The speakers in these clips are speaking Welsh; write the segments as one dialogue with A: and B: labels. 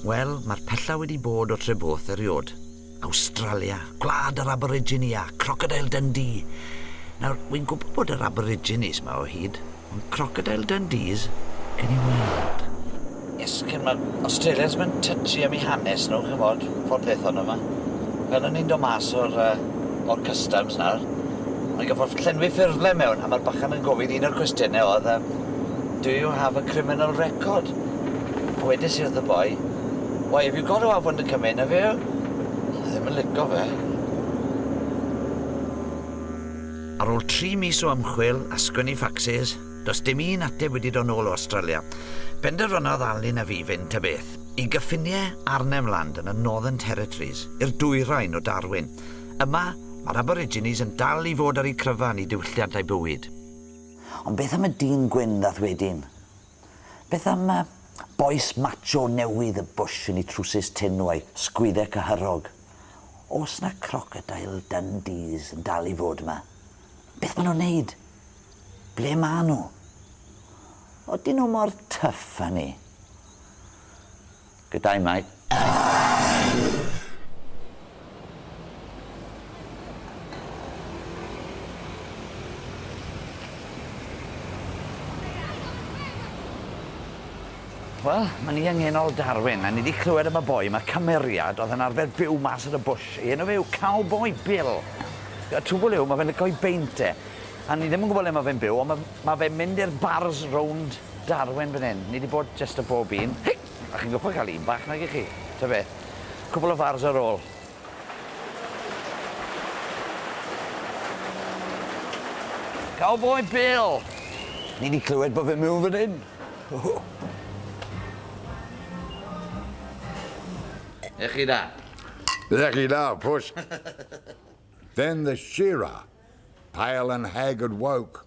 A: Wel, mae'r pella wedi bod o Treborth eriod. Awstralia, gwlad yr Aborigini a Crocodile Dundee! Nawr, wi'n gwybod bod yr Aboriginis 'ma o hyd, ond Crocodile Dundees? Gewn ni weld. Yes, kin' ma' Australians ddim yn touchy am 'u hanes nhw, ch'mod, ffordd ddaethon nhw 'ma. Fel o'n i'n dod mas o'r yy o'r customs nawr, o'n i'n gorffod llenwi ffurflen mewn, a ma'r bachan yn gofyn un o'r cwestiyne o'dd yym do you have a criminal record? A wedes i wrth y boi why have you got to have one to come in have you? O'dd o ddim yn lico fe. Ar ôl tri mis o ymchwil a sgwennu ffacsis, does dim un ateb wedi dod nôl o Awstralia. Penderfynodd Alun a fi fynd ta beth, i gyffiniau Arnhem Land yn y Northern Territories, i'r dwyrain o Darwin. Yma, mae'r Aborigines yn dal i fod ar eu cryfan i diwylliant a'u bywyd. Ond beth am y dyn gwyn ddath wedyn? Beth am y bois macho newydd y bush yn ei trwsus tynw a'i sgwydde cyhyrog? Oes 'na crocodile Dundees yn dal i fod 'ma? Beth ma' nhw'n neud? Ble ma' nhw? Odyn nhw mor tyff â ni? Gyda'i mai Arr! Wel, ma' ni yng ngenol Darwin, a ni 'di clywed am y boi 'ma, cymeriad, o'dd yn arfer byw mas yn y bwsh. Ei enw fe yw Cowboi Bill. Y twbwl yw, ma' fe'n lico 'i beint e, a ni ddim yn gwbo le ma' fe'n byw, on' ma' ma' fe'n mynd i'r bars rownd Darwin fan 'yn. Ni 'di bod jyst a bob un. Hei! A chi'n gorfod cael un bach nagych chi? Ta be? Cwpl o fars ar ôl. Cowboi Bill! Ni 'di clywed bod fe miwn fan hyn. Ych chi da? Ych
B: chi da, pwsh! Then the Shearer, pale and haggard woke,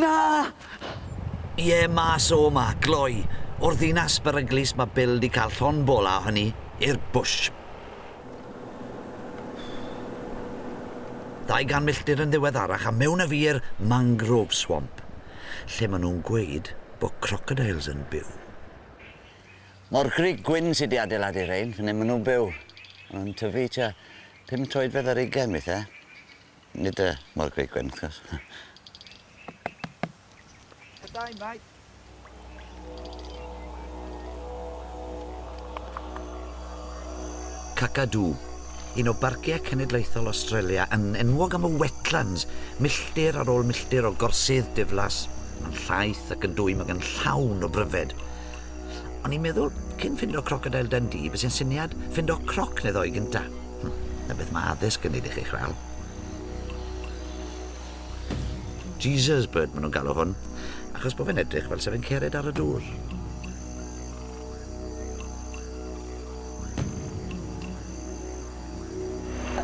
A: Na! Ie, mas o 'ma, gloi. O'r ddinas beryglus ma' Bill 'di cael llond bol a o hynny, i'r bush. Ddau gan milltir yn ddiweddarach a mewn a fi i'r mangrove swamp, lle ma' nhw'n gweud bo' crocodiles yn byw. Mo'r grug gwyn sy' 'di adeiladu rhein, fan 'yn ma' nhw'n byw. Ma' nhw'n tyfu tua Pum troedfedd ar ugain weithie. Nid y mor greu gwyn wrth gwrs. Good day, mate. Kakadu, un o barciau cenedlaethol Australia, yn enwog am y wetlands, milltir ar ôl milltir o gorsydd diflas, yn llaith ac yn dwym ac yn llawn o bryfed. O'n i'n meddwl, cyn ffindo Crocodile Dundee, bys i'n syniad ffindo croc neu ddoi gynta. Hm, na beth mae addysg yn neud i chi chwal. Jesus bird maen nhw'n galw hwn, achos bod fe'n edrych fel sef yn cered ar y dŵr.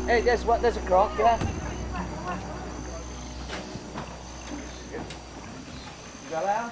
A: Hey, guess
C: what? There's a croc, yeah? You got out?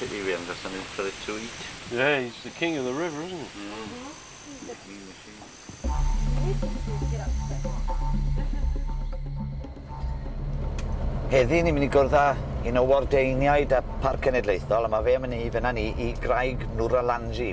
A: Bit of rain got something for it to eat. Yeah, he's the king
D: of the river, isn't
A: he? Heddi ni'n mynd i gwrdd â un o wardeiniaid y Parc Cenedlaethol a ma' fe am myn' i fyn' â ni i graig Nuralanji.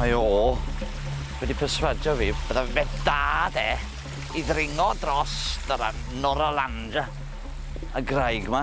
A: Mae o wedi perswadio fi bydda fe da de i ddringo dros yr Noralanda y graig 'ma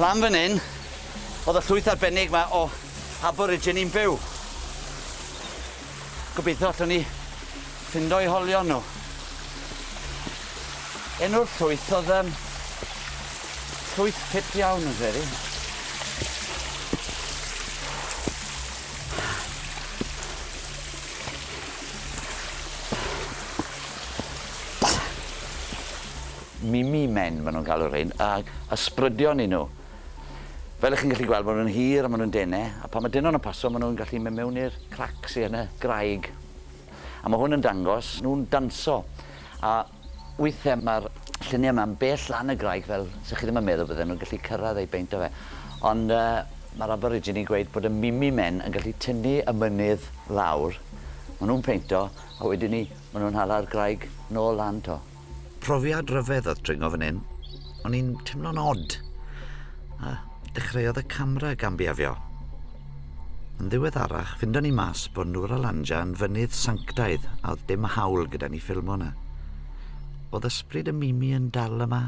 A: Lan fan 'yn, o'dd y llwyth arbennig 'ma o Aborigini'n byw. Gobeithio allwn ni ffindo'u holion nhw. Enw'r llwyth oedd um, llwyth ffit iawn yn credu. Mimi men ma' nhw'n galw rhein ag ysbrydion i nhw. Fel y'ch chi'n gallu gweld ma' nhw'n hir a ma' nhw'n dene a pan ma' denon yn paso ma' nhw'n gallu mynd mewn i'r crac sy yn y graig a ma' hwn yn dangos nhw'n danso a withe ma'r llunie ma'n bell lan y graig fel sa chi ddim yn meddwl bydden nhw'n gallu cyrradd eu beint o fe ond yy ma'r aborigine yn gweud bod y Mimi men yn gallu tynnu y mynydd lawr ma' nhw'n peinto a wedyn 'ny ma' nhw'n hala'r graig nôl lan 'to. Profiad rhyfedd oedd dringo fan hyn. O'n i'n teimlo'n odd. A dechreuodd y camera gambiafio. Yn ddiweddarach, fynda ni mas bod Nŵr Alanja yn fynydd sanctaidd a oedd dim hawl gyda ni ffilmo yna. Oedd ysbryd y Mimi yn dal yma?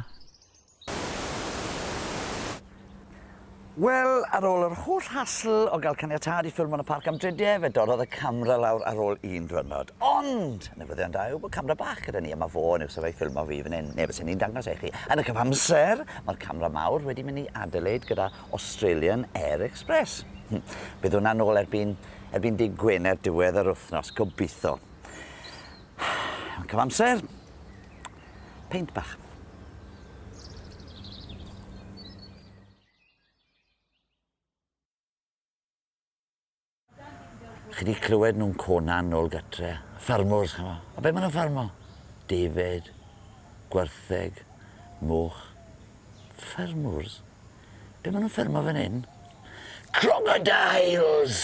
A: Wel, ar ôl yr holl hasl o gael caniatâd i ffilmo yn y parc am drydie, fe dorrodd y camera lawr ar ôl un dwyrnod. Ond! Newyddion da yw bod camera bach gyda ni a mae fo yn uwsaf ei ffilmo fi fan hyn, neu fysen i'n dangos e i chi. Yn y cyfamser, mae'r camera mawr wedi mynd i Adelaide gyda Australian Air Express. Hm, bydd hwnna nôl erbyn, erbyn dydd Gwener diwedd yr wythnos, gobeithio. Yn cyfamser, Peint bach. Chi wedi clywed nhw'n conan nôl gytre. Ffarmwrs, chama. A be maen nhw'n ffarmo? Defaid, gwertheg, mwch. Ffarmwrs? Be' ma' nw'n ffermo fan 'yn? Crocodiles!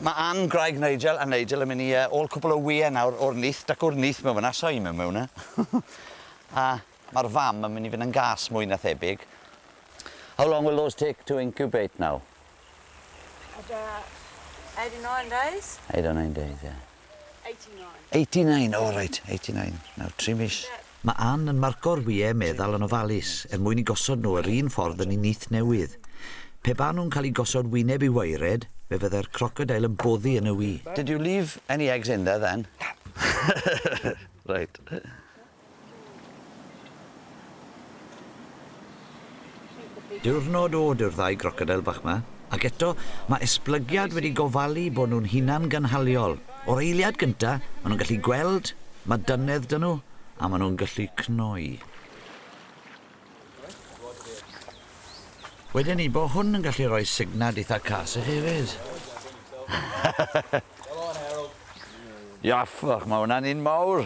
A: Ma' Ann, gwraig Nigel a Nigel yn myn' i yy ôl cwpwl o wye nawr o'r nyth, dacw o'r nyth mewn fyn 'na, soi mewn mewn 'na. A ma'r fam yn myn' i fyn' yn gas mwy na thebyg. How long will those take to incubate now?
E: About 89 days. 89
A: days,
E: ie. 89. 89, oh
A: right, 89. Nawr, tri mis. Mae Ann yn marco'r wyau meddal yn ofalus er mwyn i gosod nhw yr un ffordd yn ei nyth newydd. Pe baen nhw'n cael eu gosod wyneb i waered, fe fyddai'r crocodeil yn boddi yn y wy. Did you leave any eggs in there then? Na. Right. Diwrnod od yw'r ddau grocodeil bach 'ma, ac eto, mae esblygiad wedi gofalu bod nhw'n hunangynhaliol. O'r eiliad gynta, maen nhw'n gallu gweld, mae dynedd 'da nhw, a maen nhw'n gallu cnoi. Weda ni bod hwn yn gallu rhoi signad eitha cas i chi hefyd. Iaffach, mae hwnna'n un mawr.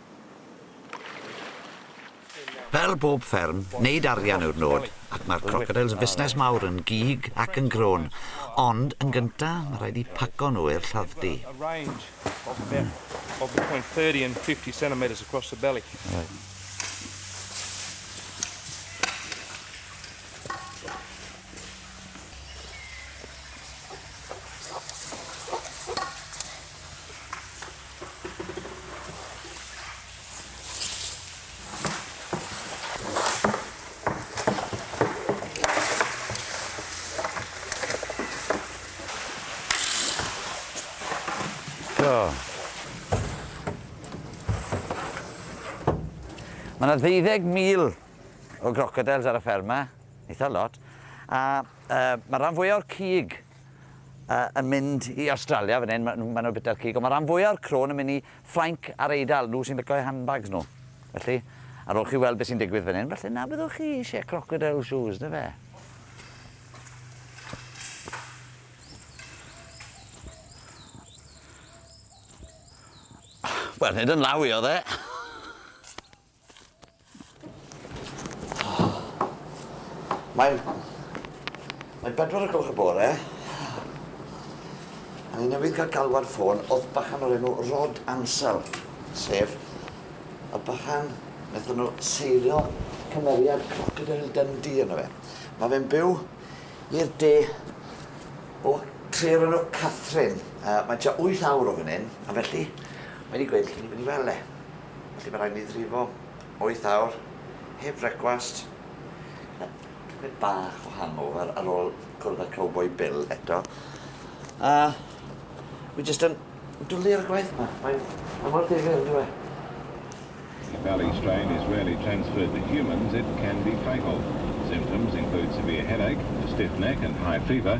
A: Fel bob fferm, wneud arian yw'r nod, ac mae'r crocodiles yn fusnes mawr yn gig ac yn grôn. Ond, yn gynta, mae rhaid eu paco nhw i'r lladd-dy. Mae yna ddeuddeg mil o grocodeils ar y fferm 'ma, eitha lot, a yy ma'r ran fwya o'r cig yn mynd i Awstralia fan hyn, ma' nhw ma' nhw bita cig, ond ma' ran fwya o'r crôn yn mynd i Ffrainc a'r Eidal, nhw sy'n bico eu handbags nhw. Felly, ar ôl chi weld beth sy'n digwydd fan hyn, falle na byddwch chi eisiau crocodile shoes, na fe? Wel, nid yn law i oedd e. Mae'n... Mae'n bedwar o gloch y bore. A ni newydd cael galwad ffôn o bachan o'r enw Rod Ansel, sef y bachan wnaethon nhw seilio cymeriad Crocodile Dundee yno fe. Mae fe'n byw i'r de o tre o'r enw Catherine. Uh, mae tua 8 awr o fan hyn, a felly mae wedi gweud lle ni'n mynd i weld e. Felly mae'n rhaid mi frifo wyth awr heb frecwast. Yy tipyn bach o hangover ar ôl cwrdd â Cowboy Bill eto. A wi jyst yn dwli ar y gwaith 'ma. Mae'n mae mor ddifyr on'd yw e? If
F: belly strain is rarely transferred to humans, it can be fatal. Symptoms include severe headache, a stiff neck and high fever,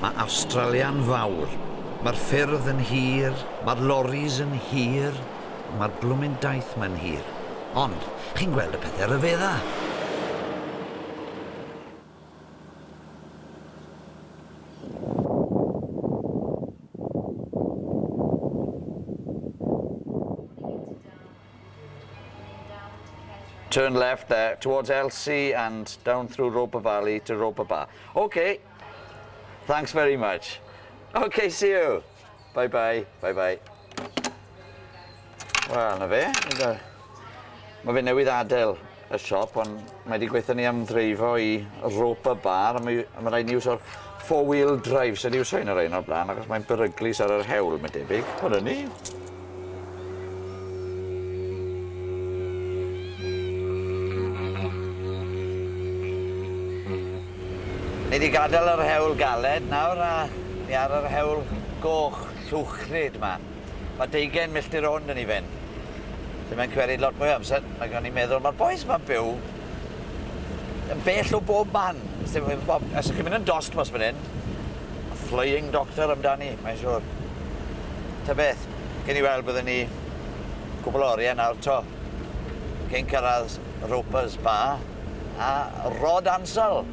A: Mae Awstralia'n fawr. Mae'r ffyrdd yn hir, mae'r loris yn hir, ond mae'r blwmin daith mae'n hir. Ond, chi'n gweld y pethe ryfedda! Turn left there towards Elsie and down through Roper Valley to Roper Bar. Ok! Thanks very much. Ok, see you. Bye bye, bye bye. Wel, na fe. Mae fe newydd adael y siop, ond mae wedi gweithio ni am ddreifo i rope y bar, a mae, mae rhaid ni iwsio'r four-wheel drive, sef iwsio un o'r ein o'r blaen, achos mae'n beryglus ar yr hewl, mae'n debyg. Hwna ni. Ni 'di gadel yr hewl galed nawr a ni ar yr hewl goch llwchlyd 'ma. Ma' deugen milltir o hwn 'dyn ni fyn. Lle mae'n cymeryd lot mwy o amser nag o'n i'n meddwl. Ma'r bois 'ma'n byw. yn bell o bob man, os ti'n gwbod bob os chi'n mynd yn dost mas myn 'yn, ma' Flying Doctor amdani, mae'n siŵr. Ta beth, gewn ni weld byddwn ni cwpwl o orie nawr 'to cyn cyrradd Ropers Bar a Rod Ansell.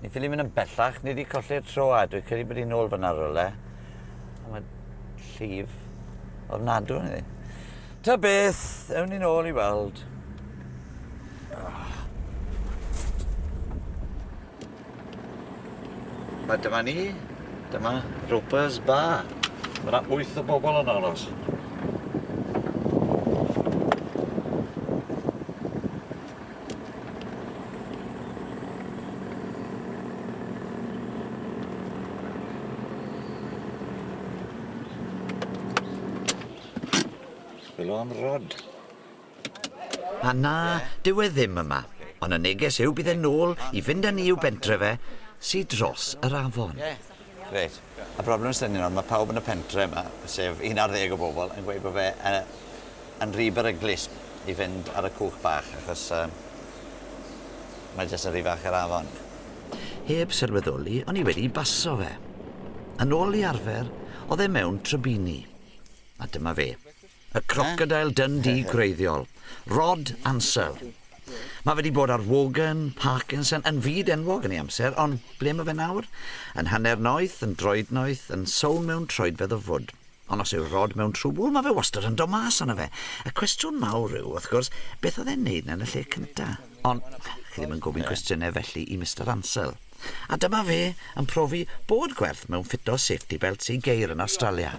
A: Ni ffili mynd yn bellach, ni wedi colli'r tro a dwi'n credu bod hi'n ôl fyna rhywle. A mae llif ofnadw yn iddi. Ta beth, ewn ni'n ôl i weld. A dyma ni, dyma Roper's Bar. Mae yna wyth o bobl yn aros. Chwilo am rod. A na, dyw e ddim yma. Ond y neges yw bydd e'n ôl i fynd â ni i'w bentre fe, sy dros yr afon. Reit. Y broblem sy 'da ni nawr, ma' pawb yn y pentre 'ma, sef un ar ddeg o bobl, yn gweud bo' fe yy yn rhy beryglus i fynd ar y cwch bach achos yym mae jyst yn rhy fach i'r afon. Heb sylweddoli, o'n i wedi baso fe. Yn ôl i arfer, o'dd e mewn trybini. A dyma fe. Y crocodeil Dundee gwreiddiol, Rod Ansell. Mae fe 'di bod ar Wogan, Parkinson, yn fyd enwog yn ei amser, ond ble mae fe nawr? Yn hanner noeth, yn droed noeth, yn sownd mewn troedfedd o fwd. Ond os yw Rod mewn trwbwl, mae fe wastad yn dod mas ono fe. Y cwestiwn mawr yw, wrth gwrs, beth oedd e'n neud 'na yn y lle cynta? Ond chi ddim yn gofyn cwestiynau felly i Mister Ansell. A dyma fe yn profi bod gwerth mewn ffito safety belts i geir yn Awstralia.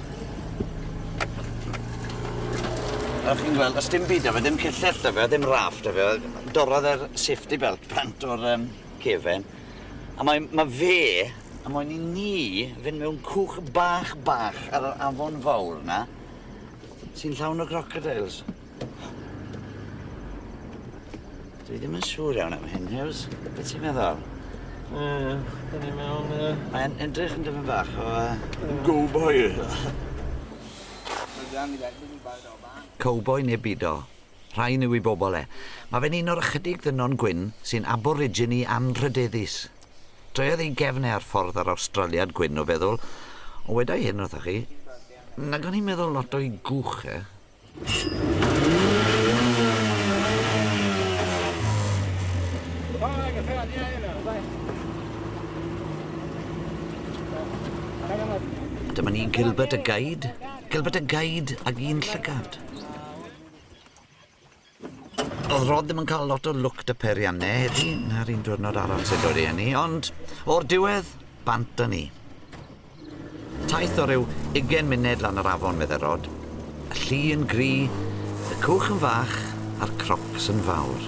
A: Fel chi'n gweld do's dim byd 'dy fe, dim cyllell 'dy fe, dim raff 'dy fe, dorrodd e'r safety belt bant o'r yym cefen a mae ma' fe a moyn i ni fyn' mewn cwch bach bach ar yr afon fowr 'na sy'n llawn o grocodeils. Dwi ddim yn siŵr iawn am hyn, Hughes. Be ti'n meddwl? Yy, dyn
D: ni mewn... Yy... Mae'n edrych yn dyfyn
A: bach o... Uh... Go boy! Cowboi neu bido? Rhain yw i bobl e. Mae fe'n un o'r ychydig ddynon gwyn sy'n aborigine anrhydeddus. Troiodd ei gefn e ar ffordd ar Awstraliad gwyn o feddwl, ond weda i hyn wrthoch chi, nag o'n i'n meddwl lot o'i gwch e. Dyma ni Gilbert y Guide, Gilbert y Guide ag un llygad. O'dd Rod ddim yn ca'l lot o lwc 'dy peirianne heddi, 'na'r un diwrnod arall sy'n dod i eni, ond o'r diwedd, bant â ni. Taith o ryw ugen munud lan yr afon, medde Rod. Y lli yn gry, y cwch yn fach, a'r crocs yn fawr.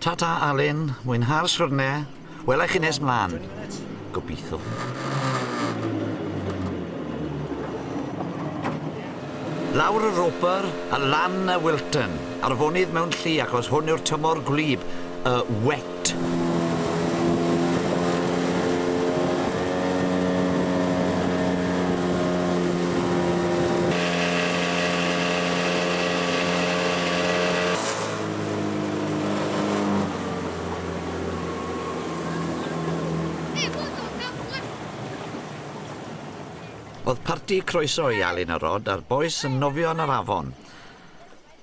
A: Ta ta Alun, mwynha'r siwrne, wela i chi nes mlan. Gobeithio. Lawr y Roper a lan y Wilton, arfonydd mewn llu achos hwn yw'r tymor gwlyb, y wet. Oedd parti croeso i Alun a Rod a'r bois yn nofio yn yr afon.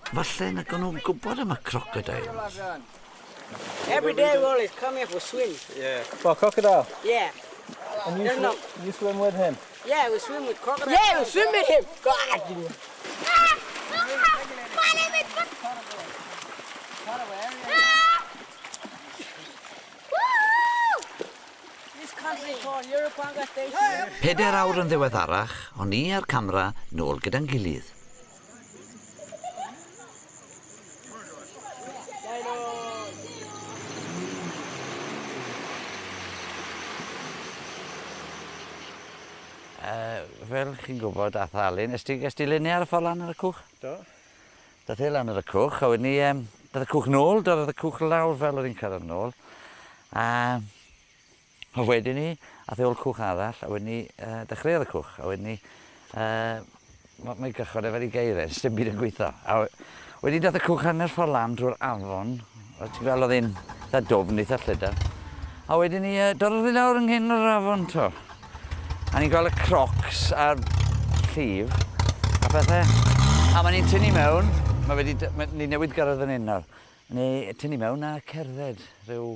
A: Falle na o'n nhw'n gwybod am y crocodiles. Every
G: day we always come here for swim. Yeah. For
C: crocodile?
D: Yeah. And you, swim,
G: you swim with him?
D: Yeah,
G: we swim with crocodiles. Yeah, we swim with him. Peder awr yn
A: ddiweddarach, o'n i a'r camera nôl gyda'n gilydd. fel chi'n gwybod, a thalu, nes ti, nes ti lunio ar y ffordd lan ar y cwch? Do.
C: Da ti
A: lan ar y cwch, a wedyn ni, um, doedd y cwch nôl, doedd y cwch lawr fel oedd hi'n cyrraedd nôl. A A wedyn 'ny ath e ol cwch arall a wedyn 'ny yy dechreuodd y cwch a wedyn 'ny yy ma' mae gychod e fel i geiren sdim byd yn gwitho a we- wedyn dath y cwch hanner ffor lan drw'r afon a ti'n gwel' odd e'n itha dwfn itha llydan a wedyn 'ny yy dorrodd e lawr yng nghyn yr afon t'wo' a ni'n gwel' y crocs a'r llif a pethe a ma' ni'n tynnu mewn ma' fe 'di dy- ma' ni newydd gyrredd fyn 'yn nawr ni tynnu mewn a cerdded ryw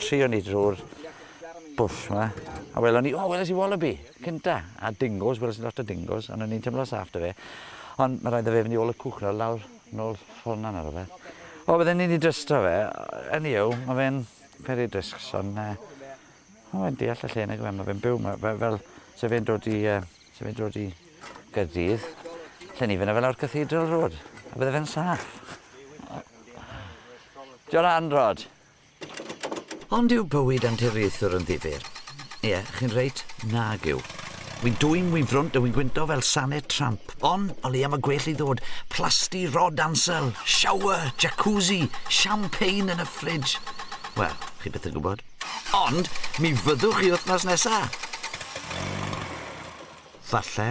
A: Trio ni drwy'r bwll yma, a welon ni, o, oh, weles i wallaby, cynta, a dingos, weles i lot o dingos, ond o'n i'n tymlo saff da fe. Ond mae rhaid da fe fyny ôl y cwch nawr, lawr, nôl ffona nawr o fe. O, bydden ni'n ei drysto fe, yn i yw, mae fe'n peri drisgs, ond uh, mae fe'n deall y lle nag fe, mae fe'n byw, mae fe, fel, se fe'n dod i, uh, se fe'n dod i Gyrdydd, lle ni fyna fel o'r Cathedral Road, a bydde fe'n saff. John Anrod. Ond yw bywyd anturiaethwr yn ddifyr? Ie, chi'n reit, nag yw. Wi'n dwym, wi'n frwnt a wi'n gwyntog fel sanedd tramp. Ond, o leia mae gwell i ddod. Plasty rod ansel, shower, jacuzzi, champagne yn y ffrij. Wel, chi byth yn gwybod. Ond, mi fyddwch chi wythnos nesa. Falle.